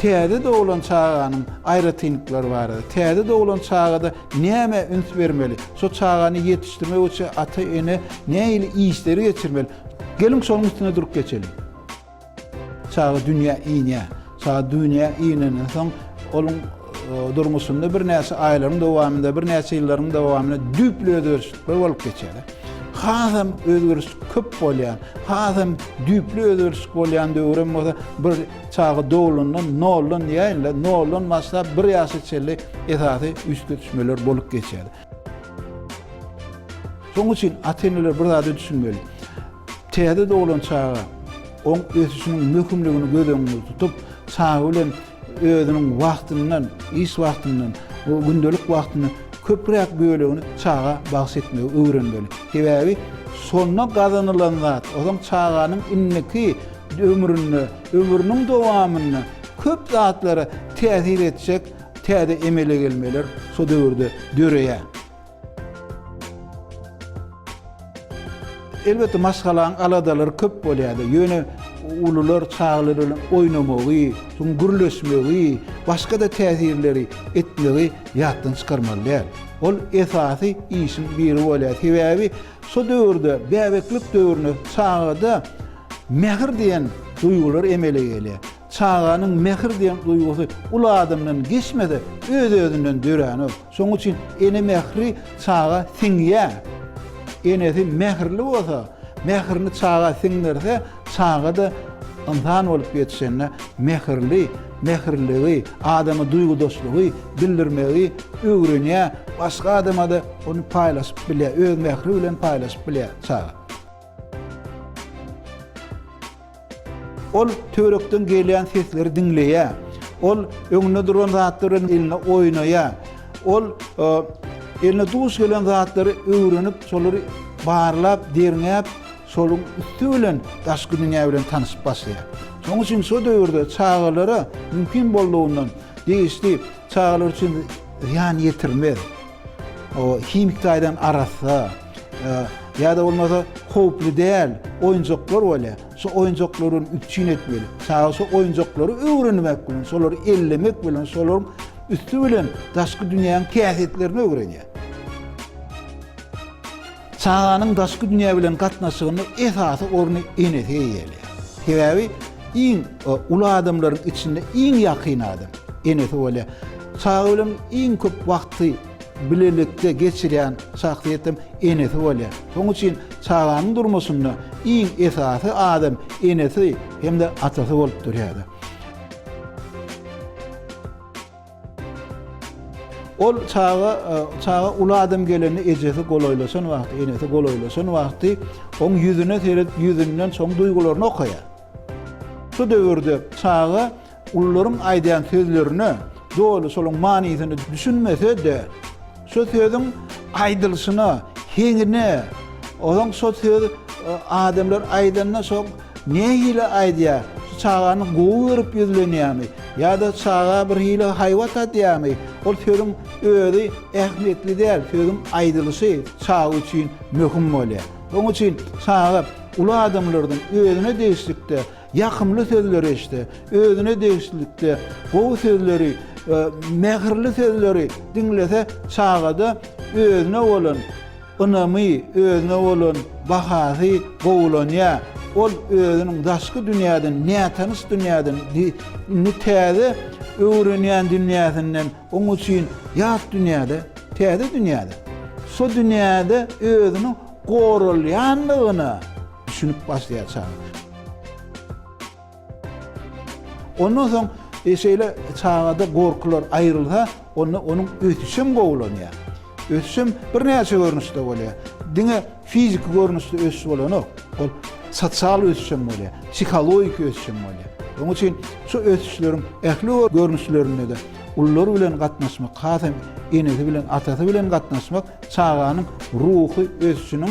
Täze doglan çaganyň aýratynlyklary barada. Täze doglan çagada nämä üns bermeli? Şo çagany ýetişdirmek üçin ata-ene nähili işleri geçirmeli? Geliň şonuň üstünde durup geçeliň. Çaga dünýä inýär. Çaga dünýä inenden soň, onuň durmuşynda birnäçe aýlaryň dowamynda, birnäçe ýyllaryň dowamynda düýpli özgerişlikler bolup geçýär. Hasam özgerişlik köp bolýan, hasam düýpli özgerişlik bolýan döwrem bolsa, bir çaga doglandan noldan diýäýin-le, noldan başlap bir ýaşa çenli esasy üýtgetişmeler bolup geçýär. Şonuň üçin ata-eneler bir zada düşünmeli. Täze doglan çaga oň ösüşiniň möhümligini göz öňünde tutup, çaga bilen özüniň wagtyndan, iş wagtyndan, gündelik wagtyndan köpräk bölegini çaga bagyş etmegi öwrenmeli. Sebäbi şonda gazanylan zat, ozaň çaganyň indiki ömründe, ömrüniň dowamynda köp zatlara täsir etjek, Täze emele gelmeler şo döwürde döreýär. Elbetde maşgalaň aladalary köp bolýardy. Ýöne ulular çagalar bilen oýnamagy, şum gürleşmegi, başga-da täsirleri etmegi ýatdan çykarmaly däl. Ol esasy işiň biri bolýar. Sebäbi şo döwürde bäbeklik döwründe çagada mähir diýen duýgular emele gelýär. Çaganyň mähir diýen duýgusy uly adamdan geçmese, öz-özünden döränok. Şonuň üçin ene mähri çaga siňýär. Enesi mähirli bolsa, mähirini çaga siňdirse, çaga-da ynsan bolup ýetişende mähirli, mähirliligi, adama duýgudaşlygy bildirmegi öwrenýär, başga adama-da ony paýlaşyp bilýär, öz mähri bilen paýlaşyp bilýär çaga. Ol töwerekden gelýän sesleri diňleýär. Ol öňünde duran zatlar bilen elinde oýnaýar. Ol eline duş gelen zatlary öwrenip, şolary barlap, derňäp, şonuň üsti bilen daşky dünýä bilen tanyşyp başlaýar. Şonuň üçin şu döwürde çagalara mümkin boldugyndan degişli çagalar üçin zyýan ýetirmez, himiki taýdan arassa, Ýa-da bolmasa howply däl oýunjaklar bolýar. Şu oýunjaklar bilen üpjün etmeli. Çaga şu oýunjaklary öwrenmek bilen, şolary ellemek bilen, şolaryň üsti bilen daşky dünýäniň kähitlerini öwrenýär. Çaganyň daşky dünýä bilen gatnaşygynda esasy orny enesi eýeleýär. Sebäbi iň uly adamlaryň içinde iň ýakyn adam enesi bolýar. Çaga bilen iň köp wagty Bilelikde geçirýän şahsyýetem enesi bolýar. Şoň üçin çaganyň durmuşynda iň esasy adam enesi hem-de atasy bolup durýar. Ol çaga, çaga uly adam gelende ejesi golaýlaşan wagty, enesi golaýlaşan wagty oň ýüzüne seredip, ýüzünden şoň duýgularyny okaýar. Şu döwürde çaga Ulularyň aýdýan sözlerine doly şolaryň manysyny düşünmese-de, şo sözüň aýdylyşyna, heňine, ozaň şo sözi adamlar aýdanda şo nähili aýdýar, şu çagany gowy görüp ýüzlenýärmi ýa-da çaga birhili haýbat adýarmy, ol sözüň özi ähmiýetli däl, sözüň aýdylyşy çaga üçin möhüm bolýar. Onuň üçin çaga uly adamlardan özüne degişlikde Ýakymly sözleri eşde, özüne degişlilikde gowy sözleri we mähirli sözleri diňlese çagada özüne bolan ynamy, özüne bolan bahasy gowulanýar. Ol özüniň daşky dünýäden, nätanyş dünýäden, indi täze öwrenýän dünýäsinden, oň üçin ýat dünýäde, täze dünýäde, şo dünýäde özüniň goralýandygyna düşünip başlaýar çaga. Ondan soň şeýle çagada gorkular aýrylsa, onda onuň ösüşi hem gowulanýar. Ösüş hem birnäçe görnüşde bolýar. Diňe fiziki görnüşde ösüş bolanok. Ol sosial ösüş hem bolýar, psihologik ösüş hem bolýar. Onuň üçin şu ösüşleriň ähli görnüşlerinde-de ulular bilen gatnaşmak, has hem enesi bilen, atasy bilen gatnaşmak çaganyň ruhy ösüşiniň